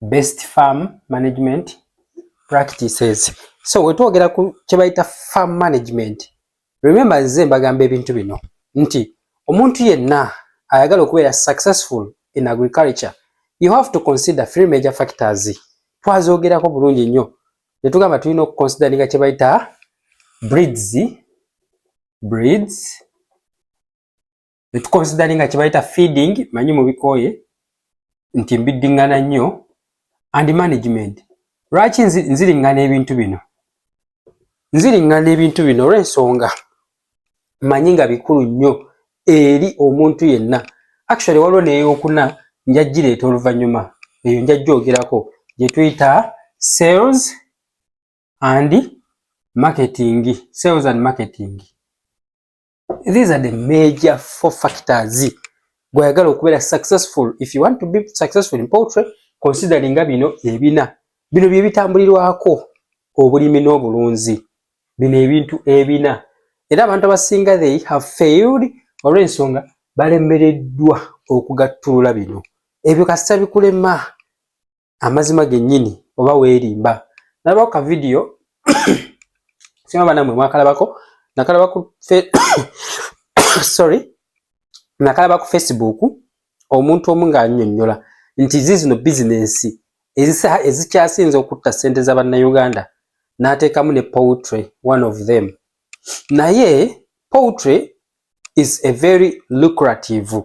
best farm management practices so wetwogera ku kyebayita farm management remember nze mbagamba ebintu bino nti omuntu yenna ayagala okubeera successful in agriculture you have to consider three major factors twazogerako bulungi nnyo netugamba tulina okuconsideringa kyebayita breeds breeds netukonsidali nga kyebayita feeding manyi mubikooye nti mbiddingana nnyo and management lwaki nziringana ebintu bino nziringana ebintu bino olwensonga manyi nga bikulu nnyo eri omuntu yenna actually waliwo neyokuna njajjireeta oluvannyuma eyo njajjoogerako gyetuyita sales and marketing sales and marketing these are the major four factors gwayagala okubeera successful if you want to be successful in poultry consideringa bino ebina bino byebitambulirwako obulimi n'obulunzi bino ebintu ebina era abantu abasinga they have failed olw'ensonga balemereddwa okugattulula bino ebyo kasita bikulema amazima genyini oba werimba nalaba ka video sima bana mwe mwakalabako nakalaba ku fe sorry nakalaba ku facebook omuntu omu nga anyonyola nti zizino business ezisa ezikyasinza okutta sente za banna Uganda natekamu ne poultry one of them naye poultry is a very lucrative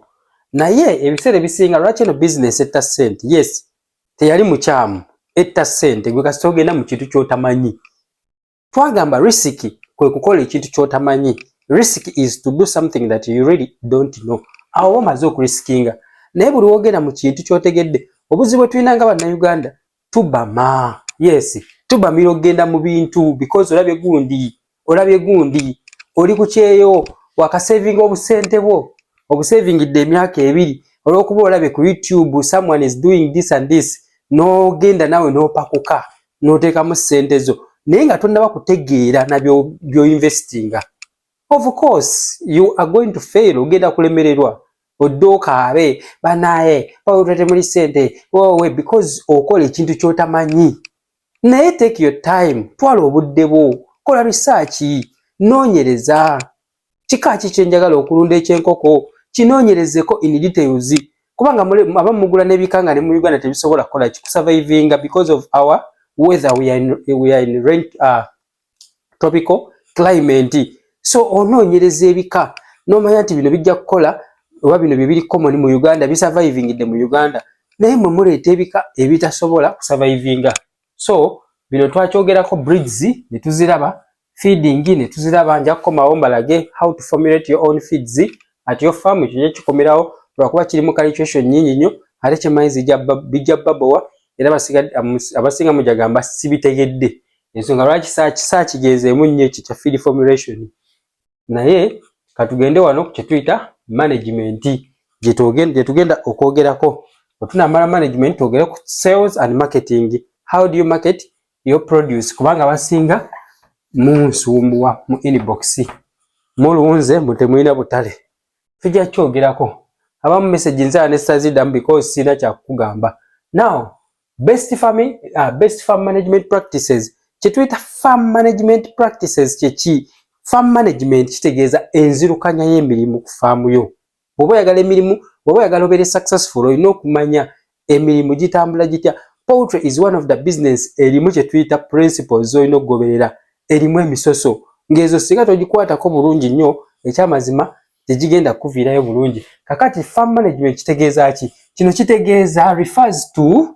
naye ebiseera ebisinga lwaki eno bizinesi etta sente yes teyali mukyamu etta sente gwe kasita ogenda mu kintu kyotamanyi twagamba risiki kwe kukola ekintu kyotamanyi risiki is to do something that you really don't know awo oba omaze okurisikinga naye buli wogenda mu kintu kyotegedde obuzibu bwe tulina nga bannauganda tubama yes tubamira okugenda mu bintu because olabye gundi olabye gundi oli ku kyeyo wakasavinga obusente bwo obusavingidde emyaka ebiri olwokuba olabye ku youtube someone is doing this and this nogenda nawe nopakuka notekamu sente zo naye nga tonaba kutegeera nabyoinvestinga of course you are going to fail ogenda kulemererwa odde okaabe banaye bawetwete muli sente wowe because okola ekintu kyotamanyi naye take your time twala obudde bwo kola risaaki noonyereza kika ki kyenjagala okulunda ekyenkoko kinoonyerezeko in details kubanga aba mugula nebika nga ne mu uganda tebisobola kukola ki kusurvivinga because of our weather we are in, we are in rent, uh, tropical climate so onoonyereza ebika n'omanya nti bino bijja kukola oba bino bye biri common mu uganda bisurvivingidde mu uganda naye mwe muleeta ebika ebitasobola kusurvivinga so bino twakyogerako breeds ne tuziraba feeding ne tuziraba nja kukomawo mbalage how to formulate your own feeds at your farm ekyo nja kikomerawo lwakuba kiri mu calculation nyingi nnyo ate kyemanyi bijja babowa era abasiinga mujagamba sibitegedde ensonga lwaki saakigeezeemu nnyo ekyo kya feed formulation naye katugende wano kyetuyita management gyetugenda okwogerako otunamala management twogere ku sales and marketing how do you market your produce kubanga basinga munsumbuwa mu inbox mulunze mutemulina butale tujja kyogerako abamu message nzaa nesazidamu because sirina kyakugamba now Best farm, uh, best farm management practices kyetuyita farm management practices kyeki farm management kitegeeza enzirukanya y'emirimu ku faamu yo bwoba oyagala emirimu bwoba oyagala obeere successful olina okumanya emirimu gitambula gitya poultry is one of the business erimu kyetuyita principles zolina okugoberera erimu emisoso ng'ezo singa togikwatako bulungi nnyo ekyamazima tegigenda kukuviirayo bulungi kakati farm management kitegeeza ki kino kitegeeza refers to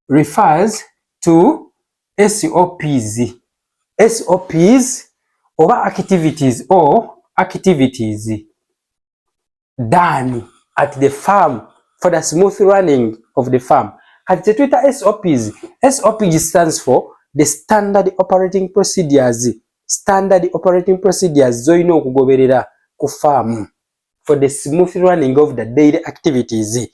refers to sops sops oba activities or activities done at the farm for the smooth running of the farm kati kyetuyita sops sops stands for the standard operating procedures standard operating procedures zolina okugoberera ku faamu for the smooth running of the daily activities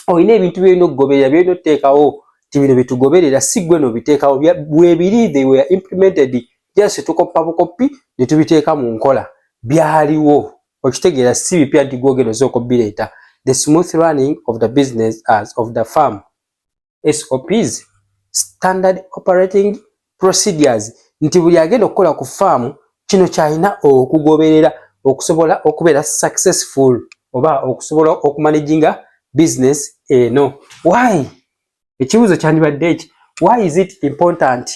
olina ebintu byolina okugoberera byolina oteekawo ti bino byetugoberera si gwe nobiteekawo webiri they were implemented just tukoppa bukoppi netubiteeka mu nkola byaliwo okitegeera si bipya nti gwogenda osooka obireeta the smooth running of the business as of the farm SOPs, Standard Operating Procedures, nti buli agenda okukola ku faamu kino kyalina okugoberera okusobola okubeera successful oba okusobola okumanaginga business eno. Why? Ekibuuzo kyandibadde eki, why is it important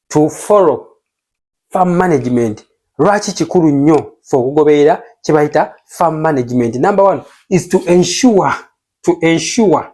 to follow farm management? Lwaki kikulu nnyo fe okugoberera kye bayita farm management? Number one is to ensure, to ensure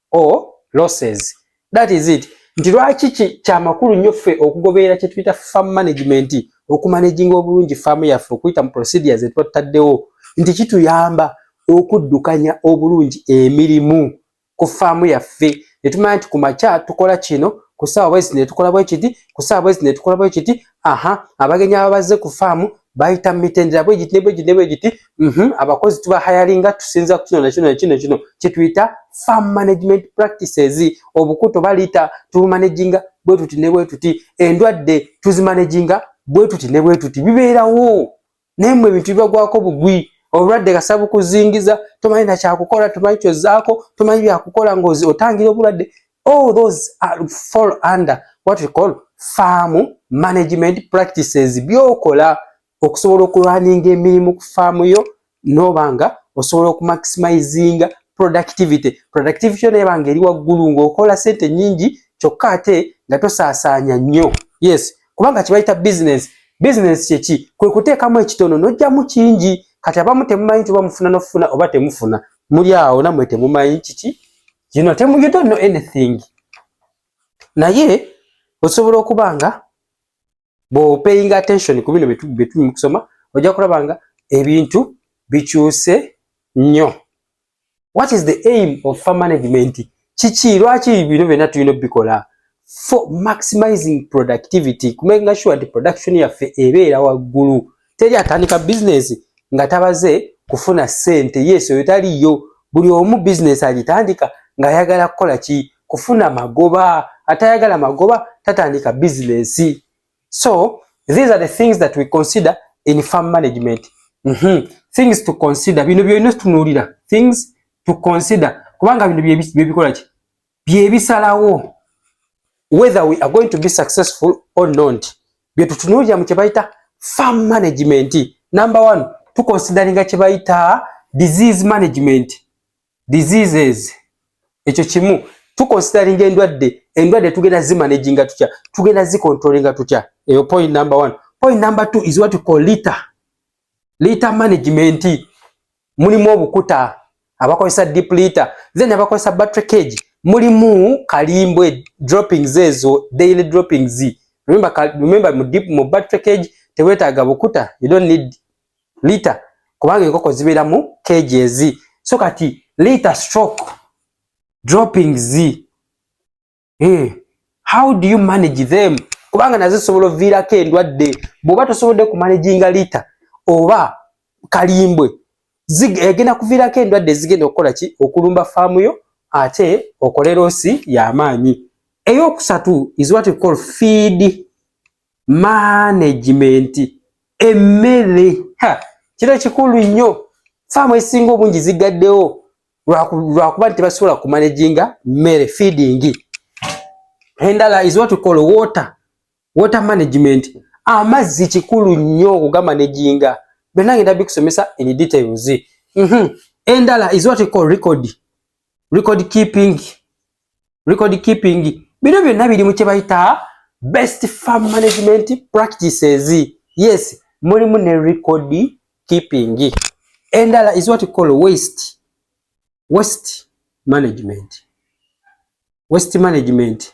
or losses that is it nti lwaki kyamakulu nnyo ffe okugoberera kyetuyita farm management okumanaginga obulungi faamu yaffe okuyita mu procedure zetuba tutaddewo nti kituyamba okuddukanya obulungi emirimu ku faamu yaffe netumanya nti ku makya tukola kino ku saawa bwezi netukola bwekiti ku saawa bwezi netukola bwekiti aha abagenyi aba bazze ku faamu bayita mu mitendera bwe giti ne bwe giti ne bwe giti mhm, abakozi tuba hayalinga tusinza ku kino na kino na kino kino kye tuyita farm management practices obukuto baliita tubumanaginga bwe tuti ne bwe tuti endwadde tuzimanaginga bwe tuti ne bwe tuti bibeerawo naye mwe ebintu bibagwako bugwi obulwadde kasa bukuzingiza tomanyi nakyakukola tomanyi kyozaako tomanyi byakukola ngaozi otangira obulwadde all those are fall under what we call farm management practices byokola okusobola okulwaninga emirimu ku faamu yo noba nga osobola okumaximizinga productivity productivity yo nayebanga eri waggulu ngaokola sente nyingi kyokka ate nga tosaasaanya nnyo yes kubanga kibayita bizinensi bizinensi kyeki kwe kuteekamu ekitono nojjamu kingi kati abamu temumanyi nti oba mufuna nokufuna oba temufuna muli awo namwe temumanyi kiki kino temu you don't know anything naye osobola okuba nga bwopaying attention ku bino byetuli mu kusoma ojja kulaba nga ebintu bikyuse nnyo what is the aim of farm management kiki lwaki bino byonna tulina obikola for maximizing productivity kumenga sure nti production yaffe ebeera waggulu teri atandika business nga tabaze kufuna sente yes oyo taliyo buli omu business agitandika ng'ayagala kukola ki kufuna magoba atayagala magoba tatandika bizinesi so these are the things that we consider in farm management mm -hmm. things to consider bino byolina tunuulira things to consider kubanga bino byebikola ki byebisalawo whether we are going to be successful or not byetutunuulira mu kyebayita farm management number one tukonsideringa kyebayita disease management diseases ekyo kimu tukonsideringa endwadde endwadde tugenda zimanaginga tutya tugenda zikontrolinga tutya eyo point number one point number two is what call liter liter management mulimu obukuta abakozesa deep liter then abakozesa battery cage mulimu kalimbwe droppings ezo daily droppings remember, remember mu, deep, mu battery cage tewetaaga bukuta you don't need lita kubanga enkoko zibeera mu keegi ezi so kati lita stroke dropping z eh, how do you manage them kubanga nazo zisobola oviirako endwadde bw'oba tosobodde kumanaginga lita oba kalimbwe egenda kuviirako endwadde ezigenda okukola ki okulumba faamu yo ate okole loosi y'amaanyi ey'okusatu is what you call feed management emmere kino kikulu nnyo faamu ezisinga obungi zigaddewo lwakuba nti tebasobola kumanaginga mmere feeding endala is what call water water management amazzi kikulu nnyo okugamanaginga byonna ngenda bikusomesa in details mhm. endala is what call record record keeping record keeping bino byonna biri mu kye bayita best farm management practices yes mulimu ne record keeping endala is what call waste waste management waste management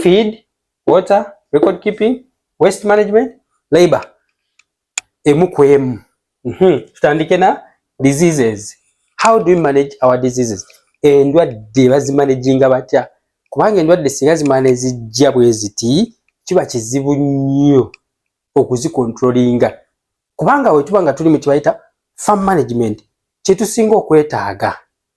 feed, water, record keeping, waste management, labor. Emu ku emu. Mm -hmm. Tutandike na diseases. How do we manage our diseases? Endwadde bazimanaginga batya? Kubanga endwadde singa zimane zijja bwe ziti kiba kizibu nnyo okuzikontrolinga kubanga wetuba nga tuli mu kibayita farm management kyetusinga okwetaaga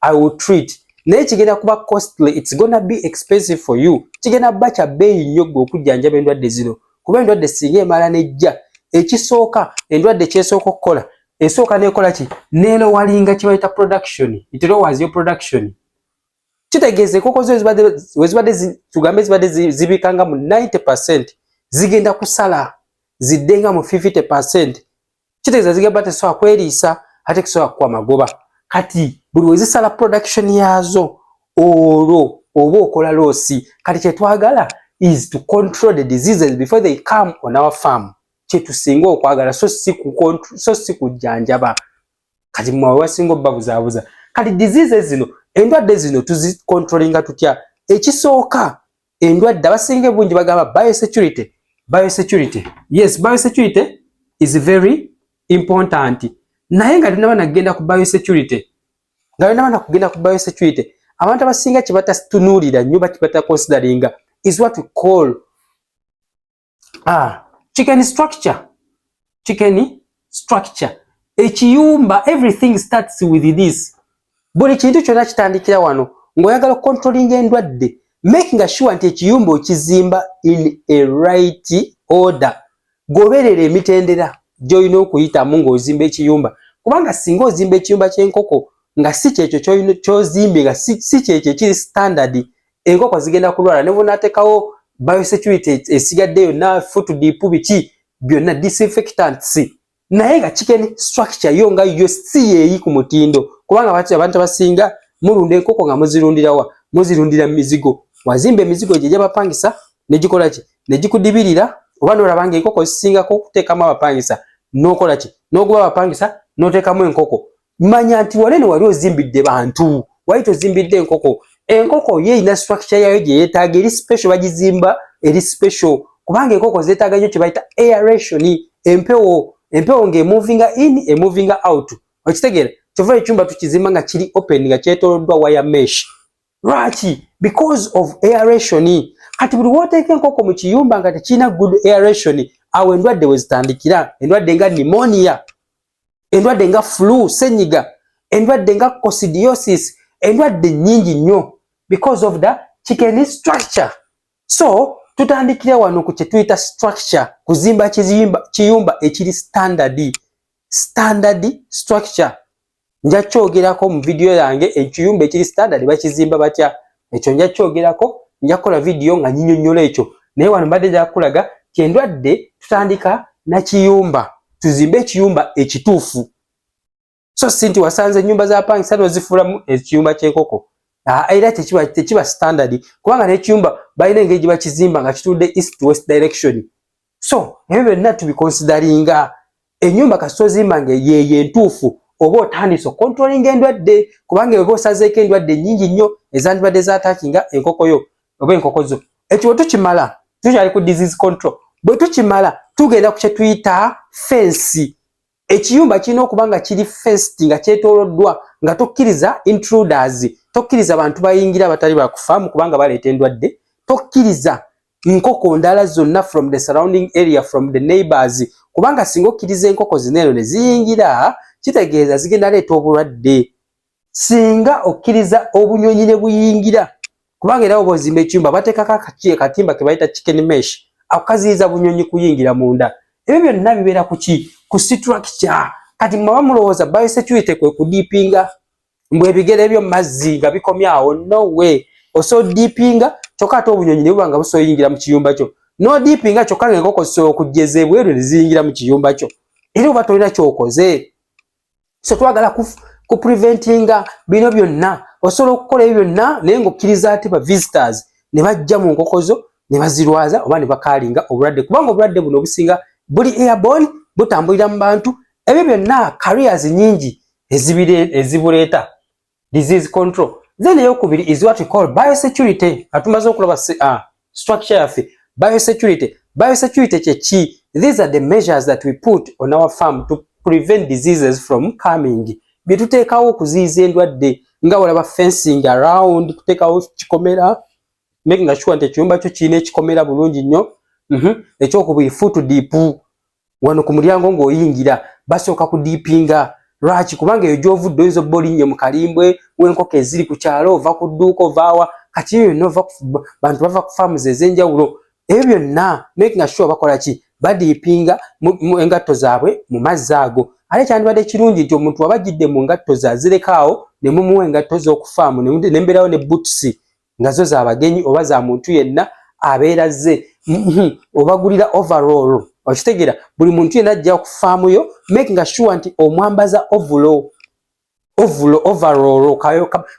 I will treat naye kigenda kuba costly it's gonna be expensive for you kigenda kuba kya bbeeyi nnyo gwe okujjanjaba endwadde zino kuba endwadde singa emala nejja ekisooka endwadde kyesooka okukola esooka nekola ki nelowalinga kibayita production itero was your production kitegeeza enkoko zo wezibadde tugambe zibadde zibikanga mu 90 percent zigenda kusala ziddenga mu 50 percent kitegeeza zigamba tesobola kweriisa ate kisobola kukuwa magoba kati buli wezisala production yaazo olwo oba okola loosi kati kyetwagala is to control the diseases before they come on our farm kyetusinga okwagala so si so si kujjanjaba kati mwe wasinga obbabuzaabuza kati diseases zino endwadde zino tuzicontrollinga tutya ekisooka endwadde abasinga ebungi bagamba biosecurity biosecurity yes biosecurity is very important naye nga tunaba nagenda ku biosecurity nga tunaba nakugenda ku biosecurity abantu abasinga kye batatunulira nnyo bakibata consideringa is what we call uh, chicken structure chicken structure ekiyumba everything starts with this buli kintu kyonna kitandikira wano ng'oyagala okukontrolinga endwadde making sure nti ekiyumba okizimba in a right order goberera emitendera gy'olina okuyitamu ng'ozimba ekiyumba kubanga singa ozimba ekiyumba ky'enkoko nga si kyekyo kyozimbye nga si kyekyo ekiri standard enkoko zigenda kulwala ne bw'onateekawo biosecurity esigadde yonna foot deep biki byonna disinfectants naye nga chicken structure yo nga yo si yeeyi ku mutindo kubanga bati abantu abasinga mulunda enkoko nga muzirundirawa muzirundira mu mizigo wazimba emizigo gye gyabapangisa ne gikola ki ne gikudibirira oba n'olaba nga enkoko zisingako okuteekamu abapangisa n'okola ki n'oguba abapangisa n'oteekamu enkoko manya nti wale newali ozimbidde bantu wali tozimbidde enkoko enkoko ye erina structure yayo gye yeetaaga eri special bagizimba eri special kubanga enkoko zeetaaga nnyo kye bayita aeration empewo empewo ng'emovinga in emovinga out okitegeera kyova ekyumba tukizimba nga kiri open nga kyetooloddwa wire mesh lwaki because of aeration kati buli wooteeka enkoko mu kiyumba nga tekirina good aeration awo endwadde we zitandikira endwadde nga nimonia endwadde nga flu senyiga endwadde nga cosidiosis endwadde nyingi nnyo because of the chicken structure so tutandikire wano ku kyetuyita structure kuzimba kizimba kiyumba ekiri standard standard structure nja kyogerako mu vidiyo yange ekiyumba ekiri standard bakizimba batya ekyo nja kyogerako nja kukola vidiyo nga nyinyonyola ekyo naye wano mbadde jakulaga kyendwadde tutandika nakiyumba tuzimbe ekiyumba ekituufu so si nti wasanze enyumba za pangisa nozifuulamu ekiyumba kyenkoko ah, era tekiba standard kubanga nekiyumba balina engeri gyebakizimba nga kitudde east west direction so ebyo byonna tubikonsidaringa enyumba kasita ozimba nga yeeyo entuufu oba otandise okontrolinga endwadde kubanga eba osazeeko endwadde nyingi nnyo ezandibadde zatakinga enkoko yo oba enkoko zo ekyo bwe tukimala tukyali ku disease control bwe tukimala tugenda ku kyetuyita fensi ekiyumba kirina okuba nga kiri fest nga kyetoloddwa nga tokkiriza intruders tokkiriza bantu bayingira abatali bakufaamu kubanga baleeta endwadde tokkiriza nkoko ndala zonna from the surrounding area from the neighbors kubanga singa okkiriza enkoko zineero ne ziyingira kitegeeza zigenda leeta obulwadde singa okkiriza obunyonyi ne buyingira kubanga era obozimba ekyumba bateekako akakiye katimba ke bayita chicken mesh akukaziyiza bunyonyi kuyingira munda ebyo byonna bibeera ku ki ku siturakitya kati mwaba mulowooza biosecurity kwe kudiipinga mbwe ebigere ebyo mazzi nga bikomyawo no we oso diipinga kyokka ate obunyonyi ne buba nga busoyingira mu kiyumba kyo nodiipinga kyokka nga enkoko zisobola okujja ez'ebweru ne ziyingira mu kiyumba kyo era oba tolina kyokoze so twagala ku, ku preventinga bino byonna osobola okukola ebyo byonna naye ngaokkiriza ati ba visitors ne bajja mu nkoko zo ne bazirwaza oba ne bakaalinga obulwadde kubanga obulwadde buno obusinga buli airborne butambulira mu bantu ebyo byonna careers nyingi ezibuleeta disease control then eyokubiri is what we call biosecurity atumaze okulaba uh, structure yaffe biosecurity biosecurity kyeki these are the measures that we put on our farm to prevent diseases from coming byetuteekawo okuziiza endwadde nga olaba fencing around kuteekawo kikomera making sure nti ekiyumba kyo kirina ekikomera bulungi nnyo mhm. ekyokubiri foot deep wano ku mulyango ng'oyingira basooka ku diipinga lwaki kubanga eyo gy'ovudde oyinza obba olinnye mu kalimbwe w'enkoko eziri ku kyalo ova ku dduuka ovaawa kati ebyo byonna ova bantu bava ku faamuzi ez'enjawulo ebyo byonna making sure bakola ki badiipinga engatto zaabwe mu mazzi ago ate kyandibadde kirungi nti omuntu waba ajjidde mu ngatto ze azirekawo ne mumuwa engatto z'okufaamu nembeerawo ne butusi nga zo za bagenyi oba za muntu yenna abeera zze mm-hmm, obagulira overall okitegera buli muntu yenna ajja ku faamu yo make nga sure nti omwambaza ovulo ovulo overall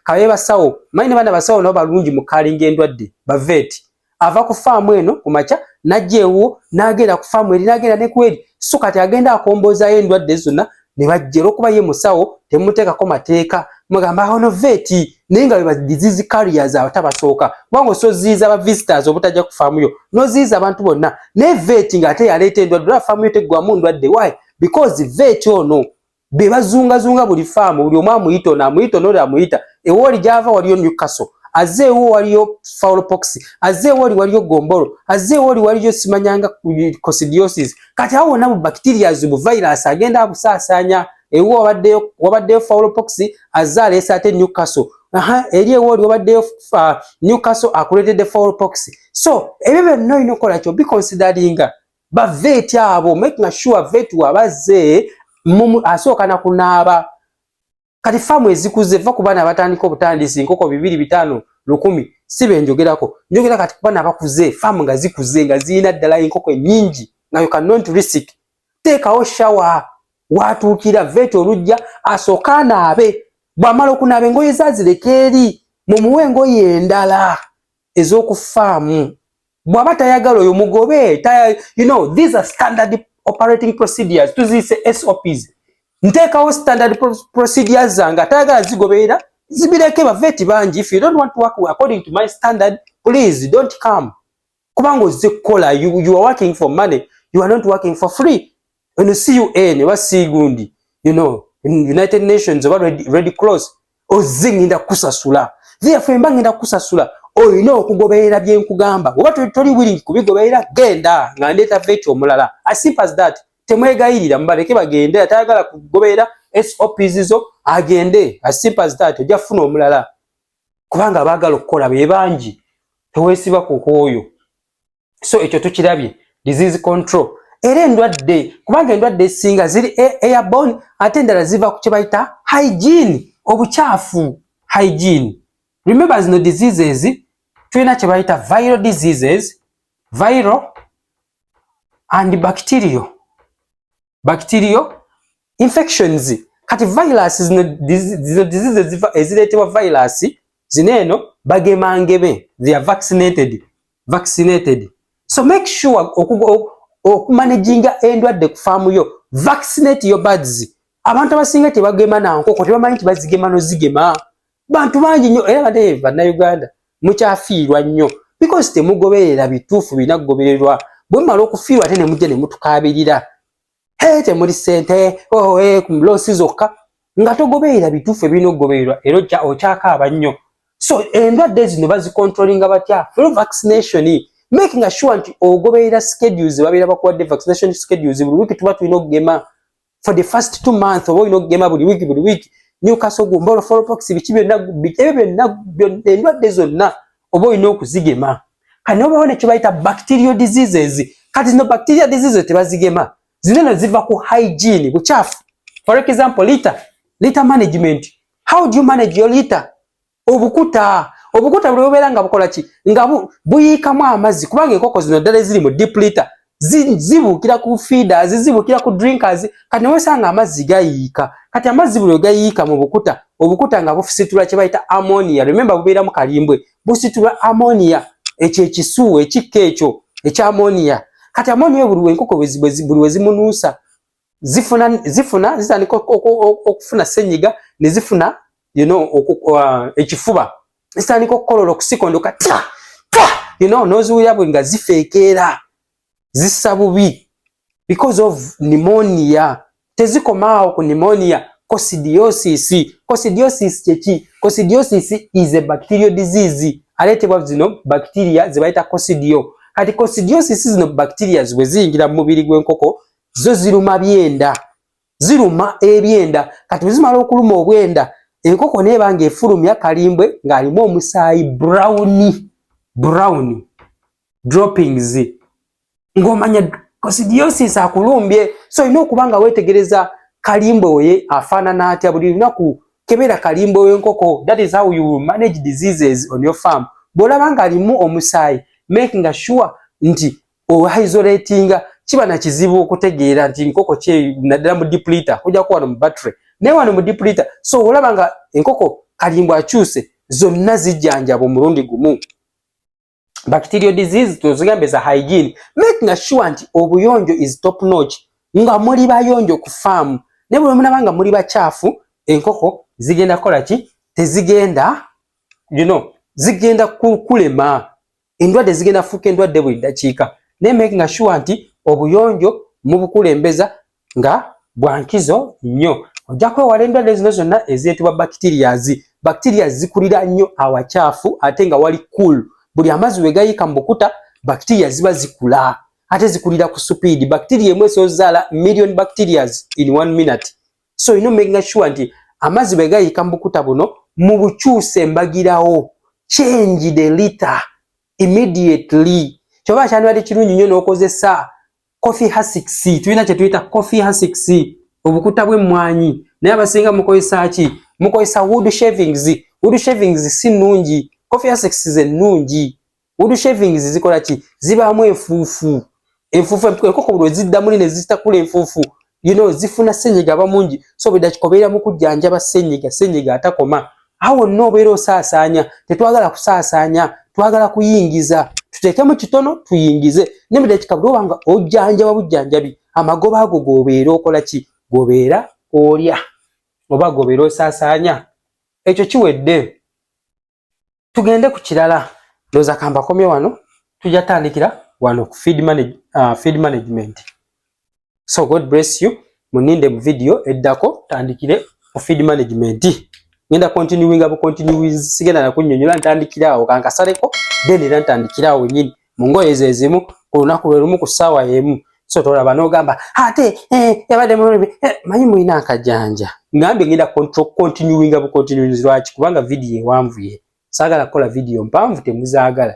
kabe basawo manyi ne baana basawo nabo balungi mu kalinga endwadde baveeti ava ku faamu eno ku makya najja ewuwo n'agenda ku faamu eri n'agenda ne kweri so kati agenda akomboozaayo endwadde zonna ne bajja olwokuba ye musawo temuteekako mateeka mugamba awo no veti naye nga bebadizizi carriers awo tabasooka kubanga osoziiza aba visitors obutajja ku faamu yo noziiza abantu bonna naye veti ng'ate yaleeta endwadde ola faamu yo teggwamu ndwadde why because veti ono be bazungazunga buli faamu buli omu amuyita ono amuyita ono oli amuyita ewooli gyava waliyo newcastle azze ewo waliyo faulopox azze ewooli waliyo gombolo azze ewooli waliyo simanyanga cosidiosis kati awo wonna bu bacterias bu virus agenda abusaasaanya ewo wabaddeyo wabaddeyo fowlopox azze aleese ate newcastle aha eri ewo oli wabaddeyo uh, newcastle akuleetedde fowlopox so ebyo byonna olina okukola kyo biconsideringa baveeti abo making sure veeti wabazze asooka na kunaaba kati faamu ezikuze va ku baana abatandika obutandisi enkoko bibiri bitaano lukumi si be njogerako njogera kati kubaana abakuze faamu nga zikuze nga zirina ddala enkoko ennyingi nga you can not risk teekawo shawa watuukira veeta olujja asooke anaabe bw'amala okunaaba engoye zaazireka eri mumuwe engoye endala ez'okufaamu bw'aba tayagala oyo mugobe you know these are standard operating procedures tuziyise sops nteekawo standard procedures zange atayagala zigoberera zibireke baveeti bangi if you don't want to work according to my standard please don't come kubanga ozze kukola you, you are working for money you are not working for free Ono si UN oba si gundi you know United Nations oba Red, Red Cross ozze ngenda kusasula therefore mba ngenda kusasula olina okugoberera bye nkugamba oba toli willing kubigoberera genda nga ndeeta veti omulala as simple as that temwegayirira mubaleke bagende atayagala kugoberera SOPs zo agende as simple as that ojja kufuna omulala kubanga abaagala okukola be bangi tewesiba ku kwoyo so ekyo tukirabye disease control era endwadde kubanga endwadde esinga ziri e, airborne ate endala ziva ku kyebayita hygiene obukyafu hygiene remember zino diseases tulina kyebayita viral diseases viral and bacterial bacterial infections kati virus zino disease eziva ezireetebwa virus zino eno bagema ngebe they are vaccinated vaccinated so make sure okumanaginga endwadde ku faamu yo vaccinate your birds abantu abasinga tebagema na nkoko tebamanyi nti bazigema nozigema bantu bangi nnyo era bade bannayuganda mukyafiirwa nnyo because temugoberera bituufu birina kugobererwa bwe mumala okufiirwa ate ne mujja ne mutukaabirira he temuli ssente oh, eh, loosi zokka nga togoberera bituufu ebirina okugobererwa era okyakaaba nnyo so endwadde zino bazikontrolinga batya fulu vaccination making sure nti ogoberera schedules babeera bakuwadde vaccination schedules buli wiiki tuba tulina okugema for the first two months oba olina okugema buli wiiki buli wiiki newcastle gumbolo folopox biki byonna ebyo byonna endwadde zonna oba olina okuzigema kati nobawo nekibayita bacterial diseases kati zino bacteria diseases tebazigema zino no ziva ku hygiene bukyafu for example liter liter management how do you manage your liter obukuta obukuta buli bubeera nga bukola ki nga buyiikamu amazzi kubanga enkoko zino ddala eziri mu diplita zibuukira ku feeders zibuukira ku drinkers kati newesanga amazzi gayiika kati amazzi buli wegayiika mu bukuta obukuta nga bufusitula kye bayita ammonia rememba bubeera mu kalimbwe busitula ammonia ekyo ekisu ekikka ekyo ekya ammonia kati ammonia buli wenkoko buli wezimunuusa zifuna zifuna zitandika okufuna senyiga ne zifuna you know uh, ekifuba zitandika okukolola okusikondoka ta ta you know noziwulira bwe nga zifeekeera zissa bubi because of pneumonia tezikomaawo ku pneumonia coccidiosis coccidiosis kyeki coccidiosis is a bacterial disease aleetebwa zino bacteria zebayita coccidio kati coccidiosis zino bacteria bwe ziyingira mu mubiri gw'enkoko zo ziruma byenda ziruma ebyenda kati wezimala okuluma obwenda enkoko neeba nga efulumya kalimbwe ng'alimu omusaayi brown brown droppings ng'omanya kosidiosis akulumbye so olina okuba nga weetegereza kalimbwe oye afaanana atya buli lunaku kebera kalimbwe w'enkoko that is how you manage diseases on your farm bw'olaba ng'alimu omusaayi makinga sure nti oisolatinga kiba na kizibu okutegeera nti nkoko kye naddala mu diplita kujja kuwa mu battery naye wano mu diplita so olaba nga enkoko kalimbwa akyuse zonna zijjanjaba omulundi gumu bacterial disease tozigambe za hygiene making sure nti obuyonjo is top notch nga muli bayonjo ku faamu naye buli omunaba nga muli bakyafu enkoko zigenda kukola ki tezigenda you know zigenda kukulema endwadde zigenda kufuuka endwadde buli ddakiika naye makinga sure nti obuyonjo mubukulembeza nga bwankizo nnyo ojja kwewala endwadde zino zonna ezeetibwa bacterias bacterias zikulira nnyo awakyafu ate nga wali cool buli amazzi wegayiika mu bukuta bacteria ziba zikula ate zikulira ku supiidi bacteria emu esobola ozaala million bacterias in one minute so you know making sure nti amazzi bwe gayiika mu bukuta buno mu bukyusa embagirawo change the liter immediately kyoba kyandibadde kirungi nnyo n'okozesa coffee hasix tulina kye tuyita coffee hasix obukuta bw'emmwanyi naye abasinga mukozesa ki mukozesa wood shavings wood shavings si nnungi coffee hasix ze nnungi wood shavings zikola ki zibaamu enfuufu enfuufu enkoko buli wezidda muli ne zitakula enfuufu you know zifuna ssenyiga aba mungi so bwedda kikobeera mu kujjanjaba ssenyiga ssenyiga atakoma awo wonna obeera osaasaanya tetwagala kusaasaanya twagala kuyingiza tuteekemu kitono tuyingize ne mu dakiika buli obanga ojjanjaba bujjanjabi amagoba ago gobeera okola ki gobeera olya oba gobeera osaasaanya ekyo kiwedde tugende ku kirala ndoza kamba komye wano tujja tandikira wano ku feed, manage, uh, feed management so god bless you muninde mu video eddako tandikire ku feed management ngenda continuinga bu continue sigenda nakunyonyola ntandikira awo kankasaleko then era ntandikira awo nyini mu ngoye ze zimu ku lunaku lwe lumu ku ssaawa y'emu so tolaba n'ogamba ate eh, yabadde mulumi eh, manyi mulina akajanja ngambe ngenda continuinga bucontinuins lwaki kubanga vidiyo ewanvuye saagala kukola vidiyo mpanvu temuzaagala